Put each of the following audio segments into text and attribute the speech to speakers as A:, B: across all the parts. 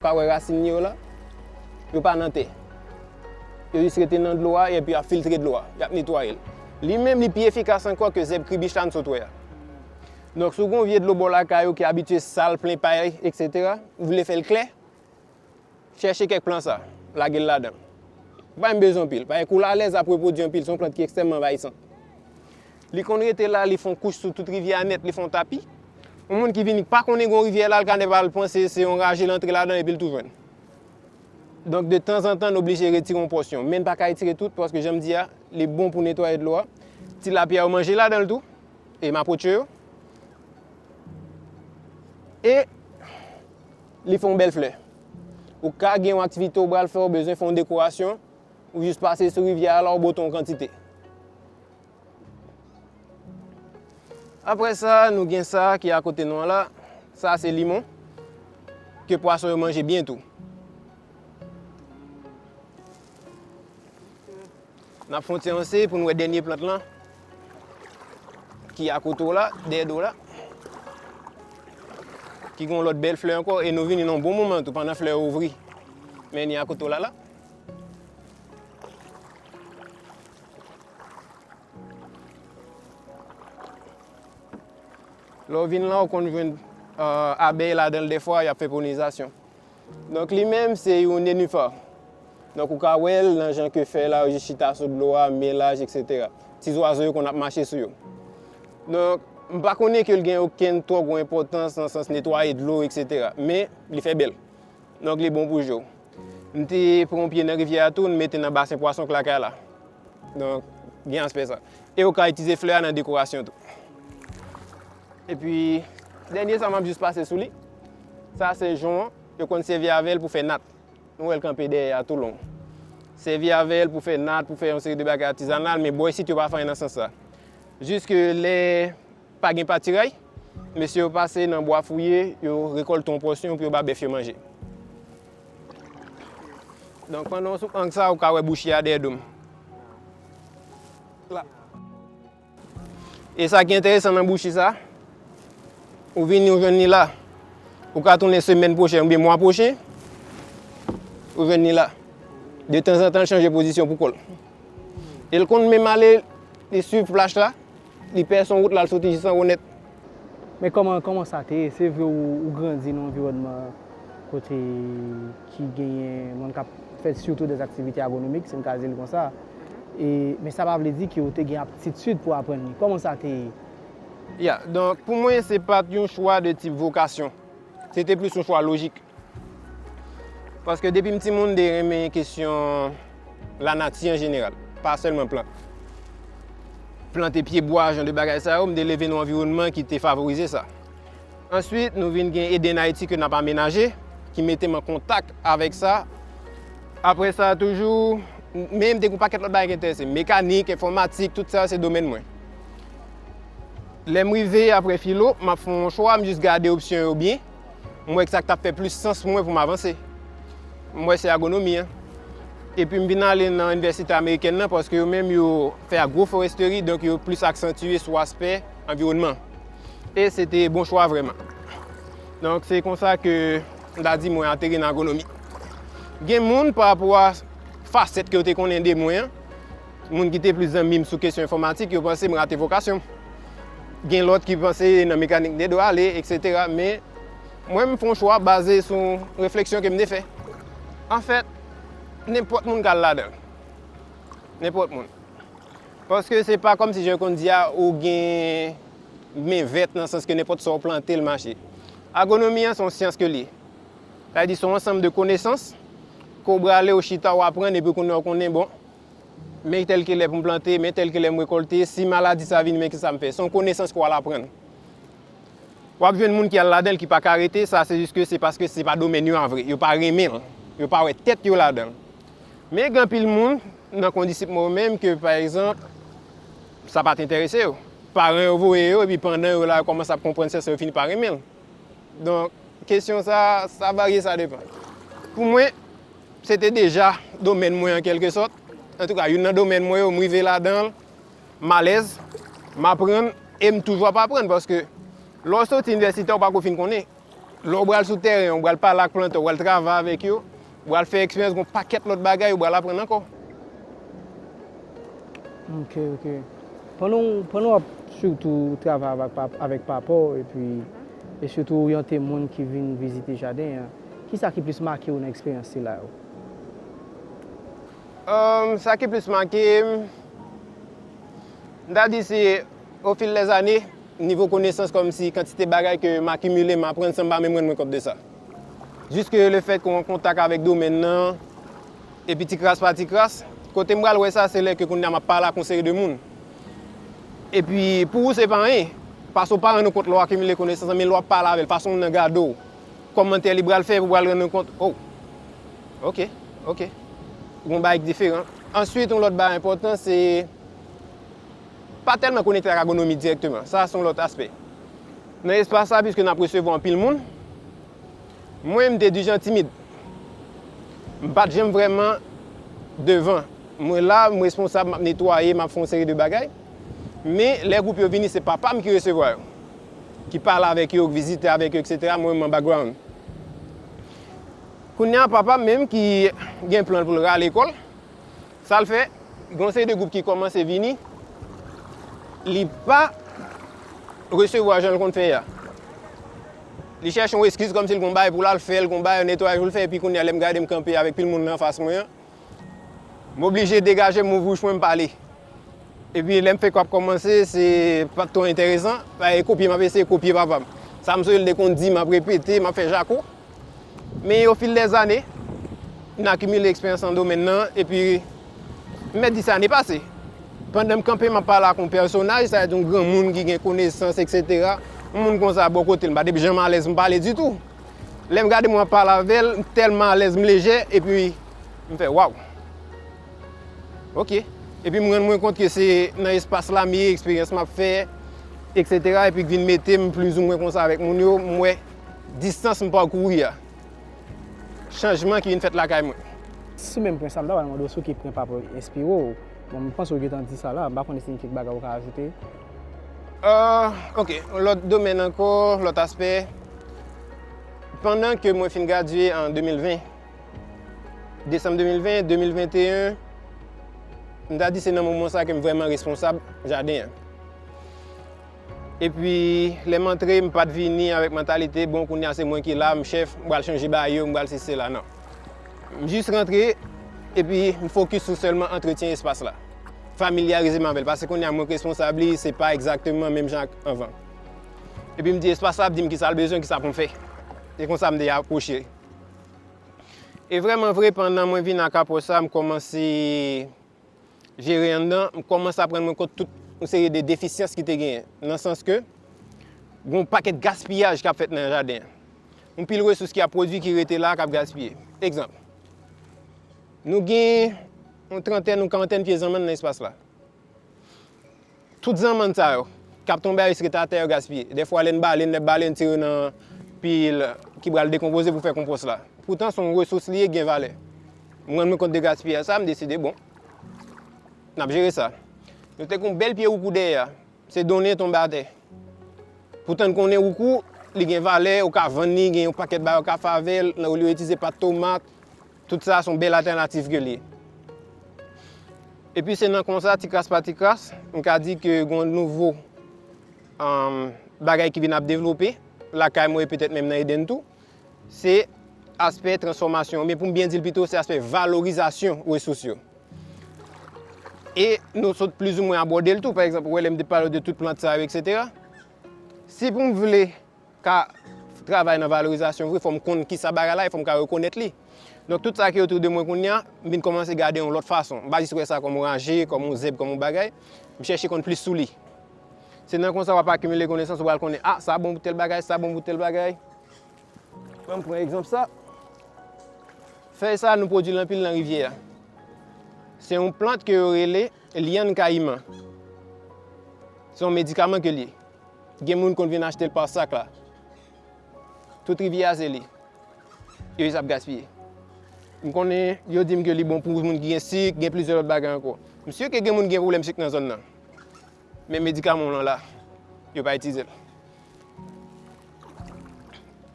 A: Pa wè rasin li yo la? Yo pa nan tè. Yo jis rete nan dlo a epi y ap filtre dlo a. Y ap netwaye l. Li menm li pi efikas ankò ke zèb kribich la n sot wè a. Donk si w gen yon vye dlo bò lakay ou ki abitye sal, plen pay eksetera, ou vle fè l klè, chèche kèk plan sa, lage l ladan l. Ou pa menm bezwen anpil. Paske kou l alèz ap repwodui anpil. Se yon plant ki ekstrèmman anvayisan. Li konn rete la, li fon kouch sou tout rivyè a nèt, li fon tapi. Yon moun ki vini k pa konnen gen yon rivyè la, l ka ne pa l panse se yon raje l antre ladan epi l tou jwenn. Donk de tanzantan n oblije retire yon pòsyon. Men n pa ka etire tout paske jan m di a, li bon pou netwaye dlo a. Tilapya yo manje ladan l tou, e mapotche yo. E li fon bèl flè. Ou ka gen yon aktivite ou pral fè, ou bezwen fè yon dekorasyon, ou jis pase sou rivyè a la, ou bwote yon kantite. Apre sa, nou gen sa ki akote nou an la. Sa se limon ke pwason yo manje byen tou. N ap fè yon ti ranse pou nou wè dènye plant lan ki akote w la, dèyè do w la. Ki gen yon lòt bèl flè ankò e nou vini nan yon bon moman tou pandan flè yo ouvri. Men ni akote w la la. Lè w vin la, w konn jwenn abèy ladan l dèfwa, y ap fè polinizasyon. Donk li menm se yon nenifò. Donk ou ka wè l nan jan ke fèy la yo jis chita sou dlo a, men laj, eksetera. Ti zwazo yo konn ap mache sou yo. Donk, m pa konnen ke l gen okenn twò gwo enpòtans nan sans netwaye dlo, eksetera. Men, li fè bèl. Nòg li bon pou je w. M te pran yon pye nan rivyè a tou, n mete nan basen pwason k lakay la. Donk, gen aspè sa. E ou ka itilize flè a nan dekorasyon tou. Epi, dènye sa m ap jis pase sou li, sa se jon an. Yo konn sèvi avè l pou fè nat. Nou wè l kanpe dèyè a tou long. Sèvi avè l pou fè nat, pou fè yon seri de bagay atizanal, men bò isit yo pa fanyen nan sans sa. Jiske lè Pa gen patiray, mesye yo pase nan bwa fouye, yo rekolte yon pòsyon pou yo ba bèf yo manje. Donk pandan w sou ank sa, ou ka wè bouchi a dèyè do m. La. E sa ki enteresan nan bouchi sa, ou vini ou jwenn li la. Ou ka tounen semèn pwochen oubyen mwa pwochen, ou jwenn li la. De tanzantan l chanje pozisyon pou kò l. E l konn menm ale li swiv plaj la. Li pè son wout la al soti jisangonèt. Men kòman
B: kòman sa te ye? Se vre ou grandi nan anviwònman kote ki genyen moun k ap fè sitou dèz aktivite agwonomik, si m ka di l konsa, e men sa pa vle di ke ou te gen aptitid pou aprann li. Kòman sa te ye? Ya,
A: donk pou mwen se pa t yon chwa de tip vokasyon. Se te plis yon chwa lojik. Paske depi m timoun m te renmen kesyon lanati an jeneral, pa sèlman plant. Plante pye bwa, jan de bagay sa yo, m te leve nan anviwònman ki te favorize sa. Answit, nou vin gen Eden Ayiti ke n ap amenaje, ki mete m an kontak avèk sa. Apre sa toujou, men m te gen yon pakèt lòt bagay ki enterese m. Mekanik, enfòmatik, tout sa yo se domèn mwen. Lè m rive apre filo, m ap fè yon chwa, m jis gade opsyon yo byen. M wè k sa k t ap fè plis sans pou mwen pou m avanse. M wè se agronomi an. Epi m vin ale nan inivèsite amerikèn nan paske yo menm yo fè agroforesteri donk yo plis aksantye sou aspè anviwònman. E se te bon chwa vrèman. Donk se kon sa ke m ta di mwen ateri nan agronomi. Gen moun pa rapò a fasèt ke yo te konnen de mwen an, Moun ki te plis zanmi m sou kesyon enfòmatik yo panse m rate vokasyon m. Gen lòt ki panse nan mekanik m te dwe ale, eksetera. Men, mwen m fè yon chwa baze sou refleksyon ke m te fè. Anfèt, nenpòt moun ka al ladan l. Nenpòt moun. Paske se pa kòmsi jan yo konn di a, ou gen men vèt nan sans ke nenpòt sa ou plante l mache. Agwonomi an se yon syans ke l ye. Sa vle di se yon ansanm de konesans ke w brale, ou chita, ou aprann epi kounya ou konnen bon, Men tèl ke lè pou m plante, men tèl ke lè m rekolte, si maladi sa vini men ki sa m fè. Se yon konesans ke w al aprann. W ap jwenn moun ki al ladan l ki pa ka rete, sa se jis ke se paske se pa domèn yo a vre. Yo pa renmen l. Yo pa wè tèt yo ladan l. Men gen anpil moun nan kondisip mwen yo menm ke pa egzanp sa pa t enterese yo. Paran yo voye yo epi pandan yo la yo kòmanse ap konprann sèlsa yo fini pa renmen l. Donk, kesyon sa a, sa varye, sa depan. Pou mwen, se te deja domèn mwen an kèlke sòt. Antouka, youn nan domèn mwen yo, m rive ladan l, m alèz, m aprann e m toujou ap aprann. Paske, lè w soti inivèsite, ou pa ko fin konnen. Lè w pral sou tèren, ou pral pale ak plantè, ou pral travay avèk yo. Ou pral fè eksperyans gon pakèt lòt bagay ou pral aprann ankò.
B: Ok ok pandan w pandan wap sitou travay avèk pa avèk papa w epi e sitou oryante moun ki vin vizite jaden an kisa ki plis make w nan eksperyans sila yo?
A: Humm sa ki plis make m m ta di se o fil dè zane nivo konesans kòmsi kantite bagay ke m akimile m aprann san m pa menm rann mwen kont de sa. Jiske lefèt ke w an kontak avèk domèn nan, epi ti kras pa ti kras, kote m pral wè sa se lè ke kounye a m ap pale ak yon seri de moun. Epi pou ou se pa anyen, paske ou pa rann ou kont lè w akimile konesans lan, men lè w ap pale avè l, fason moun nan gade w, kòmantè li pral fè, ou pral rann ou kont, o, ok, ok, gen yon bagay ki diferan. Answit yon lòt bagay enpòtan se, pa tèlman konekte ak agonomi dirèkteman, sa se yon lòt aspè. Nan espas la, piske n ap resevwa anpil moun, mwen m te di jan timid. M pa t janm vrèman devan. Mwen la, m responsab, m ap netwaye, m ap fè yon seri de bagay. Men, lè gwoup yo vini, se papa m ki resevwa yo, ki pale avèk yo, ki vizite avèk yo, eksetera, mwen m an background. Kounye a, papa m menm ki gen plan l pou l rale kò l, Sa l fè, gen yon seri de gwoup ki kòmanse vini, li pa resevwa jan l konn fè a. Li chèche yon eskiz kòm si l gen yon bagay pou l al fè, l gen yon bagay, yon netwayaj pou l fè, epi kounye a lè m gade m kanpe avèk pil moun nan anfas mwen an, m oblije degaje m, m ouvri bouch mwen, m pale. Epi lè m fèk ap kòmanse, se pa t twò enteresan, m ap eseye kopye papa m. Sa m sonje l te konn di, m ap repete, m ap fè jako. Men ofil dè zane, m akimile eksperyans nan domèn nan, epi, m mèt di sa ane pase, pandan m kanpe m ap pale ak yon pèsonaj, sa vle di yon granmoun ki gen konesans eksetera, yon moun konsa bò kote m, m pa te janm alèz pou m pale ditou. Lè m gade moun ap pale avè l, m tèlman alèz, m lejè, epi, m fè waw! Ok! Epi m rann mwen kont ke se nan espas la m ye, eksperyans m ap fè, eksetera, epi ki vin mete m plizoumwen konsa avèk moun yo, m wè. Distans m pakouri a. Chanjman ki vin fèt lakay mwen. Sou menm pwen
B: sa, m ta pral mande w sou ki pwen papa w enspire w. Bon, m panse w gen tan di sa la. M pa konnen si gen kèk bagay ou ka ajoute. Ok,
A: yon lòt domèn ankò, lòt aspè. Pandan ke mwen fin gradye an 2020, desanm 2020, 2021, m ta di se nan moman sa ke m vrèman responsab jaden an. Epi lè m antre m pat vini avèk mantalite bon kounye a se mwen ki la m chèf m pral chanje ba yo m pral sesi sela nan. M jis rantre epi m fokis sou sèlman antretyen espas la. Familyarize m avè l paske kounye a mwen k responsab li se pa egzakteman menm jan ak anvan. Epi m di espas la ap di m kisa l bezwen kisa pou m fè. E konsa m te apwoche l. E vrèman vre pandan mwen vin ak apwòch sa m kòmanse jere anndan, m kòmanse ap rann mwen kont tout yon seri de defisyans ki te genyen. Nan sans ke, gen yon pakèt gaspiyaj k ap fèt nan jaden an. Yon pil resous ki ap pwodui ki rete la a k ap gaspiye. Egzanp, nou gen yon trantèn, yon karantèn pye zanmann nan espas la. Tout zanmann sa yo, k ap tonbe a riske ta tè yo gaspiye. Dèfwa lè n bale, n ap bale, n tire nan pi ki pral dekonpoze pou fè konpòs la. Poutan son resous li ye ki gen valè. M rann mwen kont de gaspiyaj sa, m deside bon, n ap jere sa. Nou te gen yon bèl pye woukou dèyè a, se donnen tonbe atè. Poutan n konnen woukou, li gen valè, ou ka vann li, gen yon pakèt bagay ou ka fè avè l, olye w itilize pat tomat. Tout sa son bèl atènativ ke l ye. Epi se nan konsa, ti kras pa ti kras, m ka di ke gon nouvo bagay ki vin ap devlope lakay mwen e petèt menm nan Eden tou. Se aspè transfòmasyon, oubyen pou m byen di l pito, se aspè valorizasyon resous yo. E nou sot plizoumwen abòde l tou, pa egzanp, ou wè lè m te pale w de tout plant sa yo, eksetera. Si pou m vle ka travay nan valorizasyon vre, fò m konn kisa bagay la ye, fò m ka rekonèt li. Donk tout sa ki otou de mwen kounye a, m vin kòmanse gade yon lòt fason. M pa jis wè sa kòm yon raje, kòm yon zèb, kòm yon bagay. M chèche konn plis sou li. Se nan konsa w ap akimile konesans, ou pral konnen, a, sa bon pou tèl bagay, sa bon pou tèl bagay. An m pran egzanp sa. Fèy sa nou pwodui l anpil nan rivyè a. Se yon plant ke yo rele lyann kayiman. Se yon medikaman ke l ye. Gen moun konn vin achte l pa sak la. Tout rivyè a se li. Yo jis ap gaspiye. M konnen yo di m ke li bon pou moun ki gen sik, gen plizyè lòt bagay ankò. M si ke gen moun ki gen pwoblèm sik nan zòn nan. Men medikaman w lan la, yo pa itize l.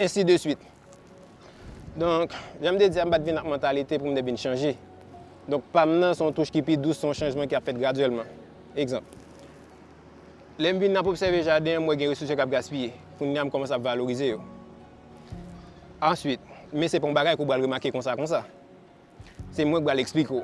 A: Ensi de swit. Donk, jan m te di a, m pa t vin ak mantalite pou m te vin chanje. Donk, pa m nan se yon touch ki pi dous, se yon chanjman ki ap fèt gradyèlman. Egzanp. Lè m vin ap obsève jaden, m wè gen resous yo k ap gaspiye. Kounye a, m kòmanse ap valorize yo. Answit, men se pa yon bagay ke w pral remake konsa konsa. Se mwen k pral eksplike w.